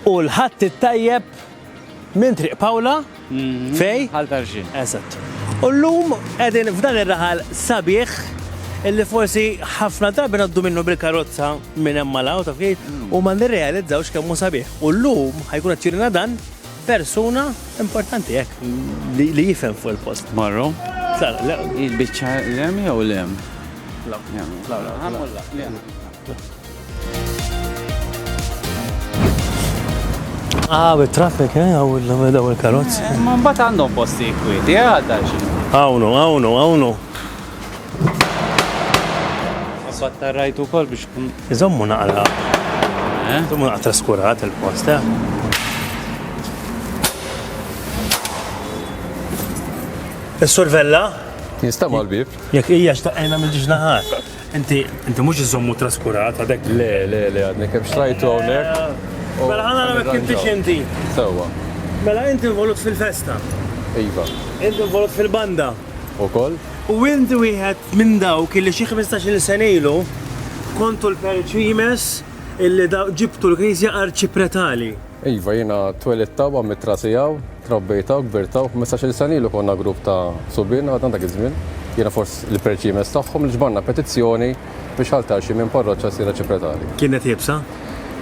U l-Ħadd it-tajjeb minn Triq Pawla mhm. fej? Għal Tarġin. Eżatt. U llum qegħdin f'dan ir-raħal sabiħ illi forsi ħafna drabi naddu minnu bil-karozza minn hemm malaw ta' kif u ma nirrealizzawx kemm hu sabiħ. U llum ħajkun qed dan persuna importanti hekk li jifhem fuq il-post. Marru? Il-biċċa lem jew lem? Lem. Ah, with traffic, eh? Għaw il-karozz. Eh, ma mbagħad għandhom posti kwieti, eh, għadda xi. Għawnu, għawnu, għawnu. Mbagħad tarrajtu wkoll biex kun. Iżommu naqra. Eh? Iżommu naqra traskurat il-post, eh? Is-survella? Nista' mal-bib. Jekk hija xtaqajna mill-ġnaħat. Inti, inti mhux iżommu traskurat għadek? Le, le, le, għadni kemm xtrajtu hawnhekk. Mela ħana nagħmel kif tix inti. Sewwa. Mela inti involut fil-festa. Iva. Inti involut fil-banda. Ukoll? U inti wieħed minn dawk illi xi 15-il sena ilu kontu l-perċimes illi ġibtu l-Knisja arċipretali. Iva, jiena twelidt hawn, għamilt rasi hawn, trabbejt hawn, kbirt hawn. Ħmistax-il sena ilu konna grupp ta' subien għadna dak iż-żmien, jiena forsi l-perċimes tagħhom, li ġbarna petizzjoni biex Ħal Tarxi minn parroċċa ssir għaxi pretali. Kienet iebsa?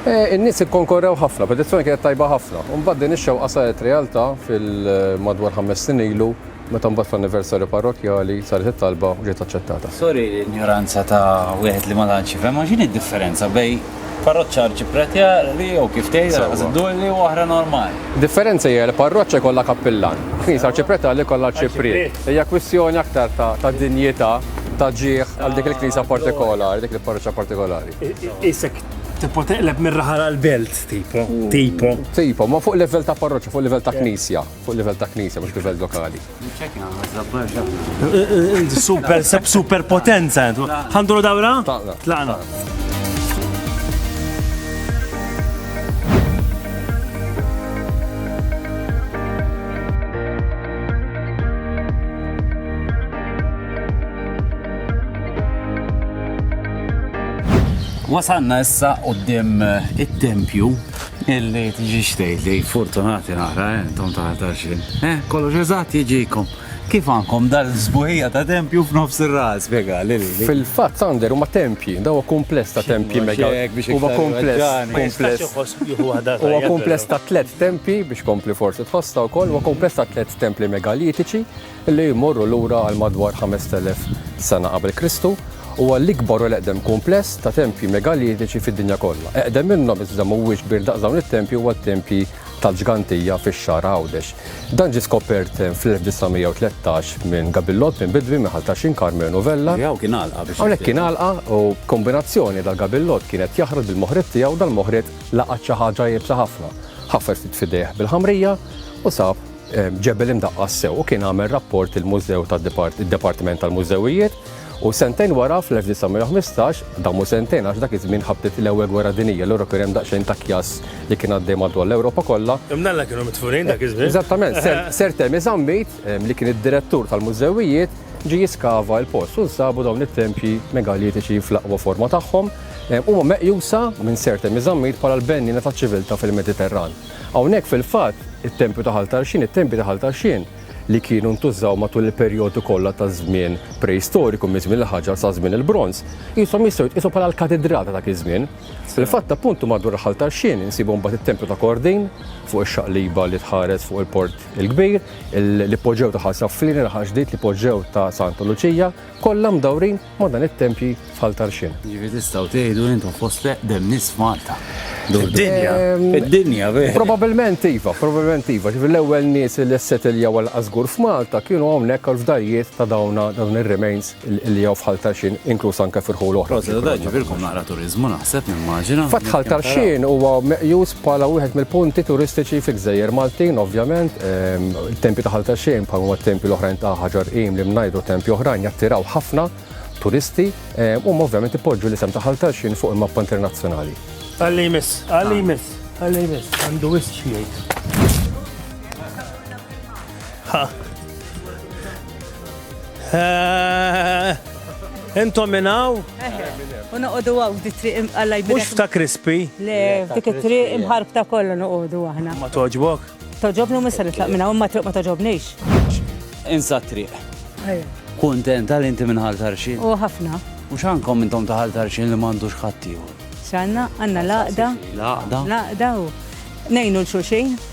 In-nies ikkonkorrew ħafna, petizzjoni kienet tajba ħafna. Imbagħad din ix-xewqa saret realtà fil-madwar ħames snin ilu. Meta mbagħad fl-anniversarju parrokkjali saret it-talba u ġiet aċċettata. Turi l-injoranza ta' wieħed li ma tantx jifhem, imma x'inhi d-differenza bejn parroċċa arċipretjali jew kif tgħid, Sewwa. Ħażin Dulli, u waħda normali? Id-differenza hija li parroċċa jkollha kappillan, knisja arċipretjali jkollha arċipriet. Hija kwistjoni aktar ta' ta' dinjità, ta' ġieħ għal dik il-knisja partikolari, dik il-parroċċa partikolari. Qisek tipo teqleb mir-raħal għall-belt, tipo, tipo. Tipo, ma fuq livell ta' parroċċa, fuq livell ta' knisja. Fuq livell ta' knisja, mhux livell lokali. Super, seb super potenza. Għanduru dawra? Tlaqna. Tlaqna. Wasanna issa qoddim it-tempju Illi tiġix tgħid li fortunati naqra eh, intom ta' 20. Eh, kollox eżatt jiġikom. Kif għandkom dal-sbuħija ta' tempju f'nofs ir-ras, spjega li. Fil-fatt Sander huma tempji, daw huwa kumpless ta' tempji mega. Huwa kumpless. Huwa kumpless ta' tliet tempji biex kompli forsi tħossha wkoll, huwa kumpless ta' tliet templi megalitiċi li jmorru lura għal madwar 5,000 sena qabel Kristu, huwa l-ikbar u l-eqdem kumpless ta' tempji megalitiċi fid-dinja kollha. Eqdem minnhom iżda mhuwiex kbir daqs dawn it-tempji huwa t-tempji tal-Ġgantija fix-Xagħar Għawdex. Dan ġie skopert fl-1913 minn Gabillo Alpin Bidwi minn Ħal Taxin Karmenu Vella. Hawnhekk kien għalqa u b'kombinazzjoni dal Gabillo kien qed jaħrad bil-moħriet tiegħu dal-moħriet laqat xi ħaġa iebsa ħafna. Ħaffer ftit f'idejh bil-ħamrija u sab Ġebel imdaqqas sew u kien għamel rapport il-Mużew tad-Dipartiment tal-Mużewijiet u sentejn wara fl-1915, dan mhu sentejn għax dak iż-żmien ħabtet l-Ewwel Gwerra Dinjija allura kien hemm daqsxejn ta' kjass li kien għaddej madwar l-Ewropa kollha. Imnalla kienu midfunin dak iż-żmien. Eżattament, Sir Temi Zammit, li kien id-Direttur tal-Mużewijiet, ġie jiskava l-post u nsabu dawn it-tempji megalitiċi fl-aqwa forma tagħhom. Huma meqjusa minn Sir Temi Zammit bħala l-benniena taċ-ċiviltà fil-Mediterran. Hawnhekk fil-fatt, it-tempju ta' Ħal Tarxien, it-tempji ta' Ħal Tarxien li kienu ntużaw matul il-perjodu kollha taż-żmien preistoriku, miż-żmien il-ħaġar sa żmien il-bronż, qishom jistgħu jitqiesu bħala l-katidral ta' dak iż-żmien. Fil-fatt, appuntu madwar Ħal Tarxien insibu mbagħad it-tempju ta' Kordin, fuq ix-xaqliba li tħares fuq il-Port il-Kbir, l-ipoġew ta' Ħal Safflini, l-Ħal Ġdid, l-ipoġew ta' Santa Luċija, kollha mdawrin Ma' dan it-tempji f'Ħal Tarxien. Ġifieri tistgħu tgħidu intom fost l-eqdem nies Malta. Id-dinja. Ehm, Id-dinja, vera. Probabilment iva, probabilment iva. Ġifieri l-ewwel nies li ssetiljaw għal qasgur f'Malta kienu hawnhekk għal fdarijiet ta' dawna dawn ir-remains li jew f'Ħal Tarxien inkluż anke fil-ħul oħra. Proset, ġifieri kum naqra turiżmu naħseb nimmaġina. Fatt Ħal Tarxien huwa meqjus Bħala wieħed mill-punti turistiċi fil-Gżejjer Maltin, ovvjament, ehm, il-tempi ta' ħalta xejn bħal huma t-tempi l-oħrajn ta' ħaġar qim li mnajdu tempi oħrajn jattiraw ħafna turisti ehm, u ovvjament ipoġġu l-isem ta' ħalta xejn fuq il-mappa internazzjonali. Għalli jmiss, għalli jmiss, għalli jmiss, għandu wisċ jgħid. Intom minn hawn? U noqogħdu hawn di triq imqalla jbidek. Mhux ta' krispi. Le, dik it-triq imħarbta kollha noqogħdu aħna. Ma toġbok? Toġobni u missa nitlaq minn hawn ma triq ma toġobnix. Insa triq. Kuntent għal inti minn ħal tarxin. U ħafna. U x'għandkom intom ta' ħal tarxin li m'għandux ħaddieħor? X'għandna? Għandna laqda. Laqda. Laqda u nejnu l-xulxin.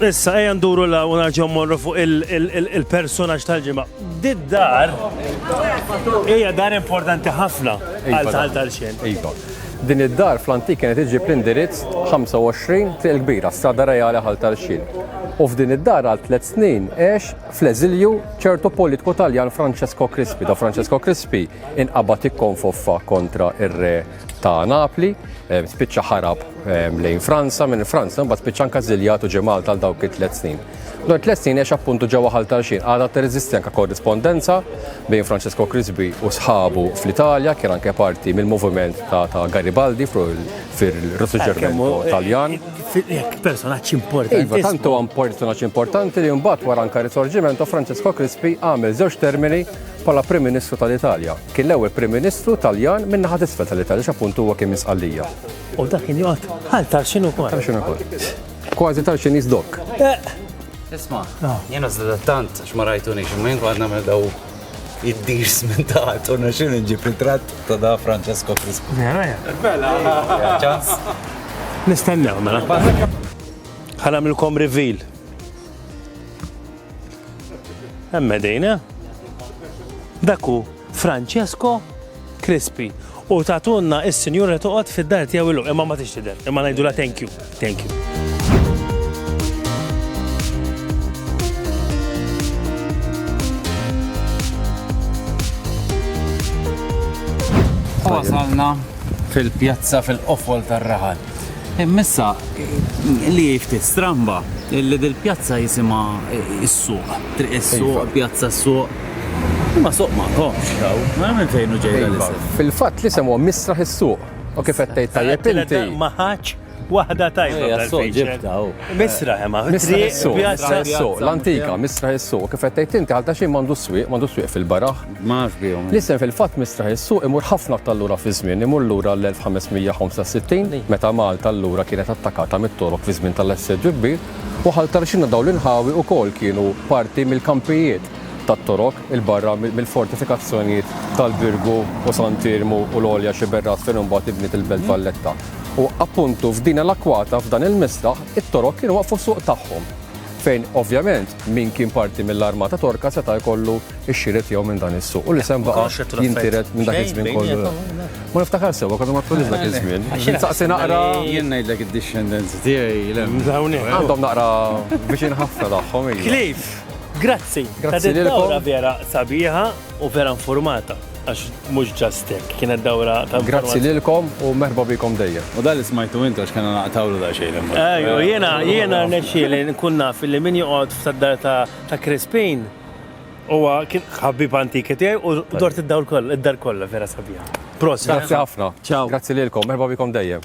Issa ejja nduru la u narġgħu mmorru fuq il-personaġġ tal-ġimgħa. Did-dar hija dar importanti ħafna iva, għal tal tal-xejn. Iva. Din id-dar fl-antik kienet iġib l-indirizz 25 triq il-kbira, strada reali ħal tal-xil. U f'din id-dar għal tliet snin għex fl-eżilju ċertu politiku Taljan Francesco Crispi. Da Francesco Crispi inqabad ikkonfoffa kontra ir-re ta' Napli, eh, spiċċa ħarab eh, lejn Franza, minn Franza, mbagħad spiċċa anka żiljat u ġemal tal dawk it-tlet snin. Dwar tlet snin għax appuntu ġewwa ħal tal-xin għadha tirreżisti anke korrispondenza bejn Francesco Crisbi u sħabu fl-Italja, kien anke parti mill-moviment ta' Garibaldi fil-Risorġermento eh, Taljan. Personaġġ importanti. Iva, tantu għam personaġġ importanti li mbagħad wara anke Risorġimento Francesco Crispi għamel żewġ termini bħala Prim Ministru tal-Italja. Kien l-ewwel Prim Ministru Taljan min-naħa t'isfel tal-Italja għax appuntu huwa kien minn Sqallija. U dak kien joqgħod bħal Tarxin ukoll. Tarxin ukoll. Kważi Tarxin jiżdokk. Eh! Isma, ah. jena zdattant, xma rajtuni, xma jinku għadna me daw id-dirs minn taħt, unna xin nġib ritrat ta' da Francesco Frisco. Ċans. Nistennew, mela. Ħanamilkom reveal. Emmedejna. Dak hu Francesco Crispi u tatunna is-sinjura toqgħod fid-dar tiegħu illum imma ma tix tidher, imma ngħidula thank you. Thank you. Wasalna fil-pjazza fil-qofol tar-raħal. Hemm issa li hi ftit stramba li dil-pjazza jisimha s-suq, triq is-suq, pjazza s-suq. Imma suq ma komx daw, ma minn fejn u ġejja l-isem. Fil-fatt l-isem huwa Misraħ is-suq. U kif qed tgħid tajjeb inti. Ma ħadx waħda tajba tal-fejxel. Misraħ imma. Misraħ is-suq, l-antika, Misraħ is-suq. Kif qed tgħid inti, għal ta' xejn m'għandu s-swieq, m'għandu s-swieq fil-baraħ. Ma nafx bihom. L-isem fil-fatt mistraħ is-suq imur ħafna aktar lura fiż-żmien, imur lura għall-1565 meta Malta allura kienet attakata mit-Torok fi żmien tal-assedju kbir u Ħal Tarxina dawn l-inħawi wkoll kienu parti mill-kampijiet tat-Torok 'il barra mill-fortifikazzjonijiet tal-Birgu u Sant' Iermu u l-Għolja Xiberrat fejn imbagħad inbniet il-Belt Valletta. U appuntu f'din il-akwata f'dan il-misraħ it-Torok kienu waqqfu s-suq tagħhom fejn ovvjament min kien parti mill-armata Torka seta' jkollu x-xiri tiegħu minn dan is-suq. U li sem baqa' jintiret minn dak iż-żmien kollu. Ma niftakar sewwa konna ma tkunx dak iż-żmien. Saqsi naqra. Jien ngħidlek id-discendenzi tiegħi l Għandhom naqra viċin ħafna tagħhom. Cliff, grazzi. Grazzi lilkom. Vera sabiħa. U vera informata, għax mhux ġast hekk, kienet dawra ta' Grazzi lilkom u merħba bikom dejjem. U dan li smajtu intu għax kellna naqtawlu da xejn imma. Ejju, jiena jiena nexxieli nkun naf li min joqgħod f'dar ta' Crispin huwa kien ħabib antiki tiegħi u dort id-dawl kollha, id-dar kollha vera sabiħa. Prosit. Grazzi ħafna. Ciao. Grazzi lilkom, merħba bikom dejjem.